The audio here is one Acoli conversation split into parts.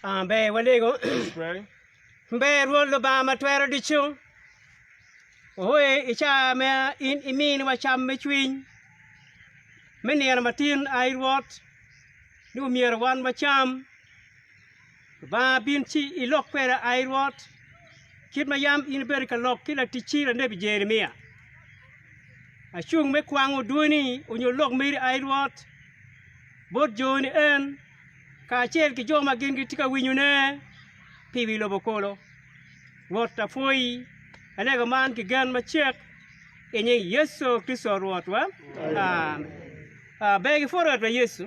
Ah, ber walego. ber Rwot Lubanga ma twero ducu. Ohoye i caa ma in iminiwa cam me cwiny me nino matin, ai Rwot, ni omyero wan wacam. Lubanga bin ci ilok kweda ai Rwot, kit ma yam in ibedo ka lok ki laticci lanebi Jeremia. Acung me kwango dwoni onyo lok meri ai Rwot, bot joni en, kacel ki jo ma gin gitye ka winyone pi wi lobo kulu. Rwot apwoyi, alega man ki gen macek i nying Yecu Kricito Rwotwa, Amen. Ber ki pwod Rwotwa Yecu.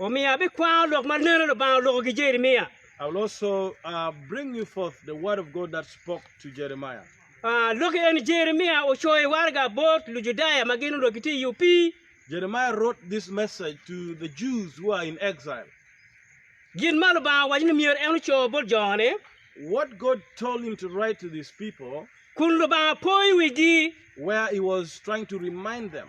Omiyo abikwano lok ma neno Lubanga oloko ki Jeremia. I will also uh, bring you forth the word of God that spoke to Jeremiah. Ah, lok eni Jeremia ocoyo waraga bot Lujudaya ma gin onongo gitye i opii. Jeremiah wrote this message to the Jews who are in exile. Gin ma Lubanga owaco ni myero en oco bot jone, What God told him to write to these people, kun Lubanga poyo wigi. where he was trying to remind them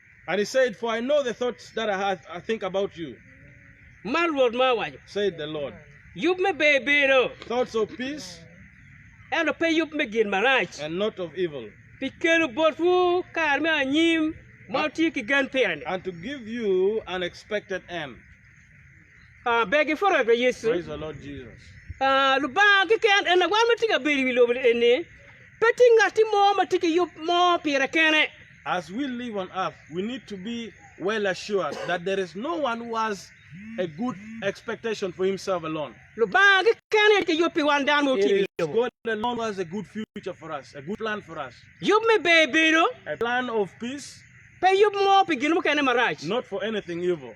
And he said, For I know the thoughts that I, have, I think about you, Ma Rwot ma owaco, said the Lord, Yub me ber bedo, thoughts of peace ento pe yub me gin marac, and not of evil, pi kelo botwu kare me anyim ma wutye ki gen pire-ni. and to give you an expected end. Ber gipwod rwot wa Yecu. Lubanga keken en lawan ma tye ka bedo i wi lobo eni, pe tye ngatti mo ma tye ki yub mo pire kene. As we live on earth we need to be well assured that there is no one who has a good expectation for himself alone. Lubanga keken aye tye ka yub pi wan dano ma otye i wi lobo. It is God alone who has a good future for us, a good plan for us. Yub me ber bedo. A plan of peace. Pe yub mo pi gin mukene marac. Not for anything evil.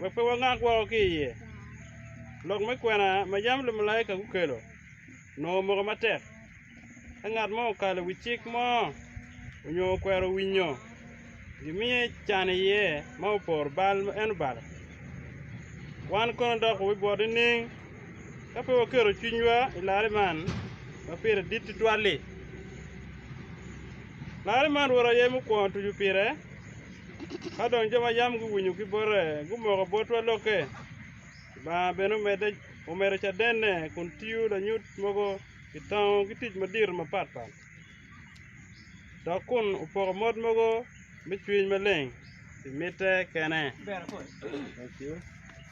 wek pe wangak woko ki iye. Lok me kwena ma yam lumalaika gukelo onongo omoko matek. Ka ngat mo okalo i wi cik mo nyo okwero winyo, gimiye can iye ma oporo bal ma en obalo. Wan kono dok wibwot nining ka pe waketo cwinywa i larre man ma pire dit tutwal-li? Larre man Rwot aye mukwongo tuco pire. Ka dong jo ma yam guwinyo ki bote gumoko botwa lokke, Lubanga bene omedo cadenne kun tiyo lanyut mogo i tango ki tic madito mapatpat, dok kun opoko mot mogo me cwiny maleng pi mitte kene.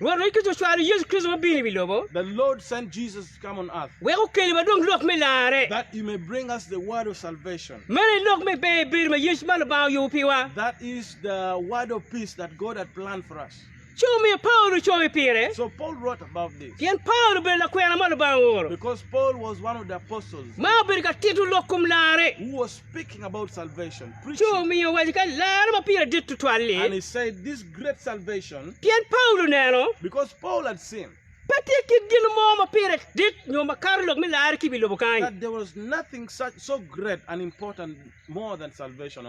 Rwot Yecu Kricito ocwalo Yecu Kricito ma obino i wi lobo wek okel wa dong lok me larre. Meno aye lok me ber bedo ma Yecu ma Lubanga oyubo piwa. Ci omiyo Paulo ocoyo pire, pien Paulo obedo lakwena ma Lubanga ooro, ma obedo ka tito lok kom larre. ci omiyo owaco ka laro ma pire dit tutwal-li, pien Paulo oneno pe tye kit gin mo ma pire dit nyo ma kato lok me larre ki i wi lobo kany.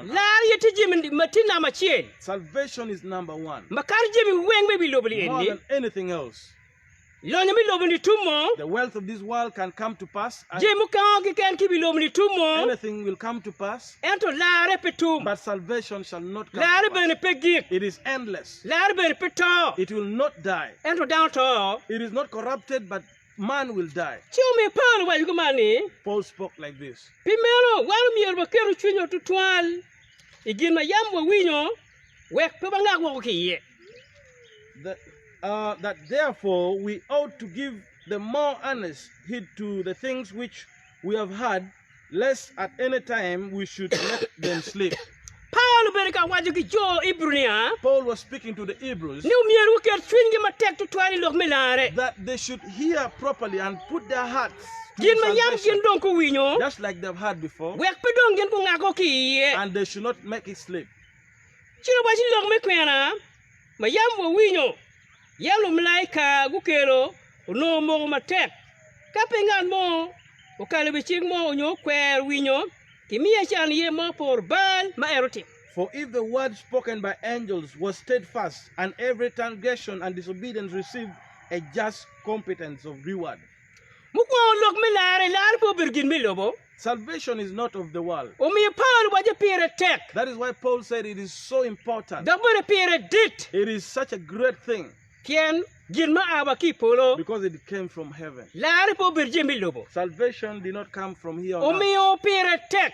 Lar aye tye jami ma tye namba acel ma kato jami weng ma i wi lobo-ni eni. Lonyo me lobo-ni tum mo? Jami mukengo keken ki i wi lobo-ni tum mo? Ento larre pe tum, larre bene pe gik, larre bene pe to, ento dano to. Ci omiyo Paulo owaco kuman ni, Pi meno, wan omyero waketu cwinywa tutwal i gin ma yam wawinyo Wek pe wangak woko ki iye. Paulo bene ka waco ki jo Ibru nia, ni omyero guket cwinygi matek tutwal i lok me larre, gin ma yam gin dong guwinyo, wek pe dong gin gungak woko ki iye. Ci awaco lok me kwena ma yam wawinyo, yam lumalaika gukelo onongo moko matek. Ka pe ngat mo okalo i wi cik mo onyo okwero winyo, kimiye can iye ma oporo bal ma en otimo. For if the word spoken by angels was stedfast, and every transgression and disobedience received a just competence of reward. Mukwongo, lok me larre, larre pe obedo gin me lobo. Salvation is not of the world. Omiyo Paulo waco pire tek. That is why Paul said it is so important. Dok bene pire dit. It is such a great thing. Pien gin ma a wa ki i polo. Because it came from heaven. Larre pe obedo jami me lobo. Salvation did not come from here on earth. Omiyo pire tek.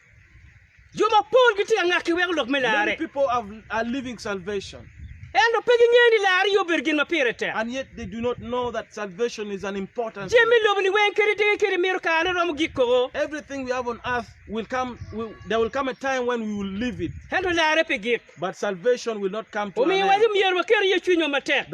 Jo mapol gitye ka ngak ki weko lok me larre. Ento pe gingeyo ni larre aye obedo gin ma pire tek. Jami me lobo-ni weng kadi dege kadi mito karone romo gik koko. Ento larre pe gik. Omiyo, wacce myero waket iye cwinywa matek.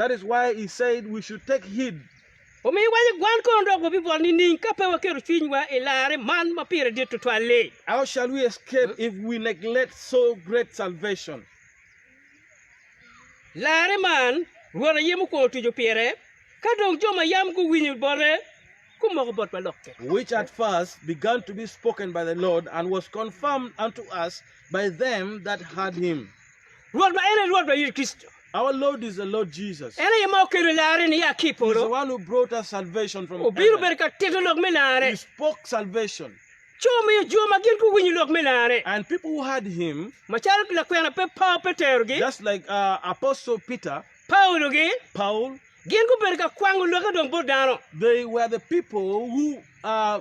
Omiyo wan egwan kono dok wabibol nining ka pe waketo cwinywa i larre man ma pire dit tutwal-li? How shall we escape if we neglect so great salvation? Larre man Rwot aye mukwongo tuco pire, ka dong jo ma yam guwinyo bote gumoko bot ma lokke. Which at first began to be spoken by the Lord, and was confirmed unto us by them that heard him. Rwot ma en aye Rwot wa Yecu Kricito. Our Lord is the Lord Jesus. En aye ma okelo larre ni ya ki i He's polo, the one who brought us salvation from obiro heaven. bedo ka tito lok me larre. He spoke salvation, Ci omiyo jo ma gin guwinyo lok me larre, and people who heard Him, macalo lakwena pe Paulo pe terogi, just like uh, Apostle Peter, Paulogi, Paul, gin gubedo ka kwango lokke dong bot dano. they were the people who uh,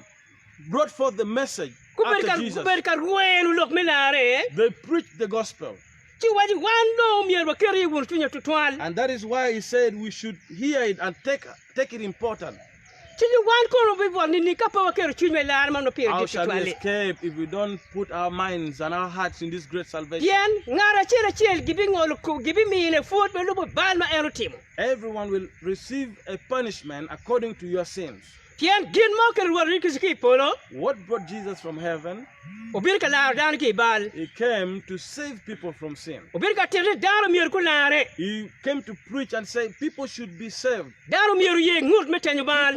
brought forth the message after Gubedo ka, Jesus. gubedo ka rweno lok me larre, They preached the gospel. ci owaco ni, Wan dong myero waket iye wunu cwinywa tutwal. And that is why he said we should hear it and take, take it important. Ci ni wan kono wabibwot nining ka pe waketo cwinywa i larre man ma pire How dit shall we tutwal-li? escape if we don't put our minds and our hearts in this great salvation? Pien ngat acel acel gibingolo ko, gibimine pwod ma lubo bal ma en otimo. Everyone will receive a punishment according to your sins. Pien gin mo kit Rwot Yecu ki i polo obino ka laro dano ki i bal, obino ka tito ni dano myero gularre. Dano myero oye ngut me tenyo bal,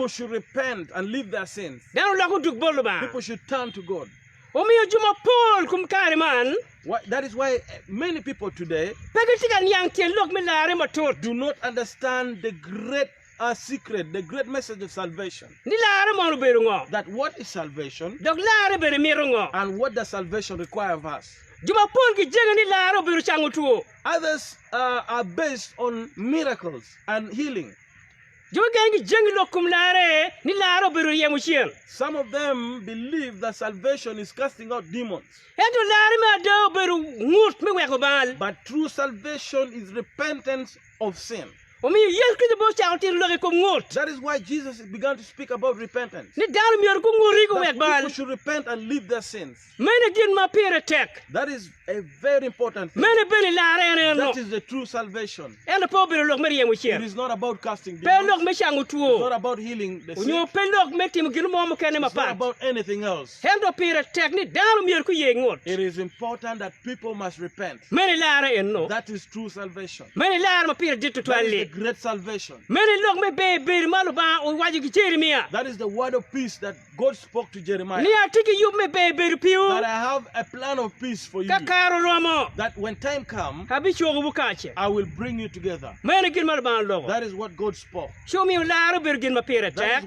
dano olok odug bot Lubanga. Omiyo jo mapol kum kare man pe gitye ka niang tyen lok me larre matut. A Secret, The Great Message of Salvation. Ni larre mono obedo ngo? That What is Salvation? Dok larre bene mito ngo? And What does Salvation require of us? Jo mapol gijenge ni larre obedo cango two. Others uh, are based on miracles and healing. Jo mukene gijenge lok kom larre ni larre obedo ryemo cen. Some of them believe that salvation is casting out demons. Ento larre me ada obedo ngut me weko bal. But true salvation is repentance of sin. Omiyo Yecu Kricito bene ocako tito lok i kom ngut. That is why Jesus began to speak about repentance. Ni dano myero gunguti That guwek bal. people should repent and leave their sins. Mene gin ma pire tek. That is a very important thing. Mene bene lar en eno. That is the true salvation. Ento pe obedo lok me ryemo It cen. is not about casting Pe demons. lok me cango two. It's not about healing the Onyo sick. pe lok me timo gin mo mukene It's not mapat. about anything else. Ento pire tek ni dano myero guye ngut. It is important that people must repent. Meno ilarre eno. Meno ilarre ma pire dit tutwal-li. Meno ilok me ber bedo ma Lubanga owaco ki Jeremia ni, Atye ki yub me ber bedo piwu, ka kare oromo, abicokowu kacel. Meno gin ma Lubanga oloko, ci omiyo larre obedo gin ma pire tek.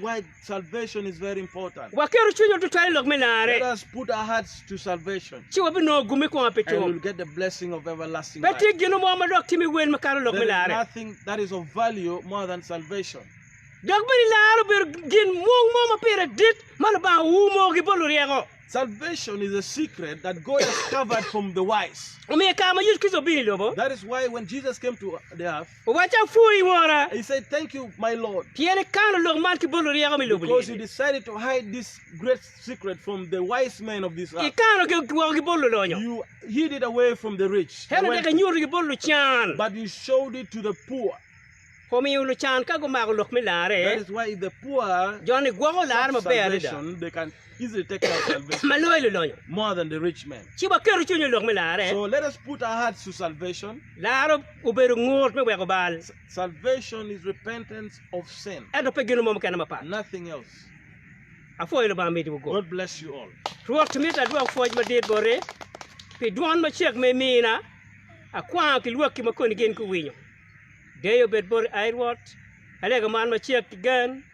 Waketo cwinywa tutwal i lok me larre, ci wabinongo gum me kwonga pi cob. Pe tye gin mo ma dok timi wel makato lok me larre. Dok bene larre obedo gin mung mo ma pire dit ma Lubanga oumo ki bot luryeko. Omiyo i kare ma Yecu Kricito obino i lobo, Owacci, Apwoyi, Wora, pien ikano lok man ki bot luryeko me lobo-ni, ikanogi woko ki bot lulonyo, ento dok inyutogi bot lucan. Omiyo lucan ka gumako lok me larre, jo-ni gwoko larre maber adada. ma loyo lulonyo, ci waketu cwinywa i lok me larre. Larre obedo ngut me weko bal, ento pe gin mo mukene mapat. Apwoyo Lubanga mitiwu gup. Rwot, mito adwok pwoc madit boti pi dwon macek ma imina. Akwango ki lwakki ma koni gin guwinyo. Deyo bed boti, ai Rwot, alega man macek ki gen.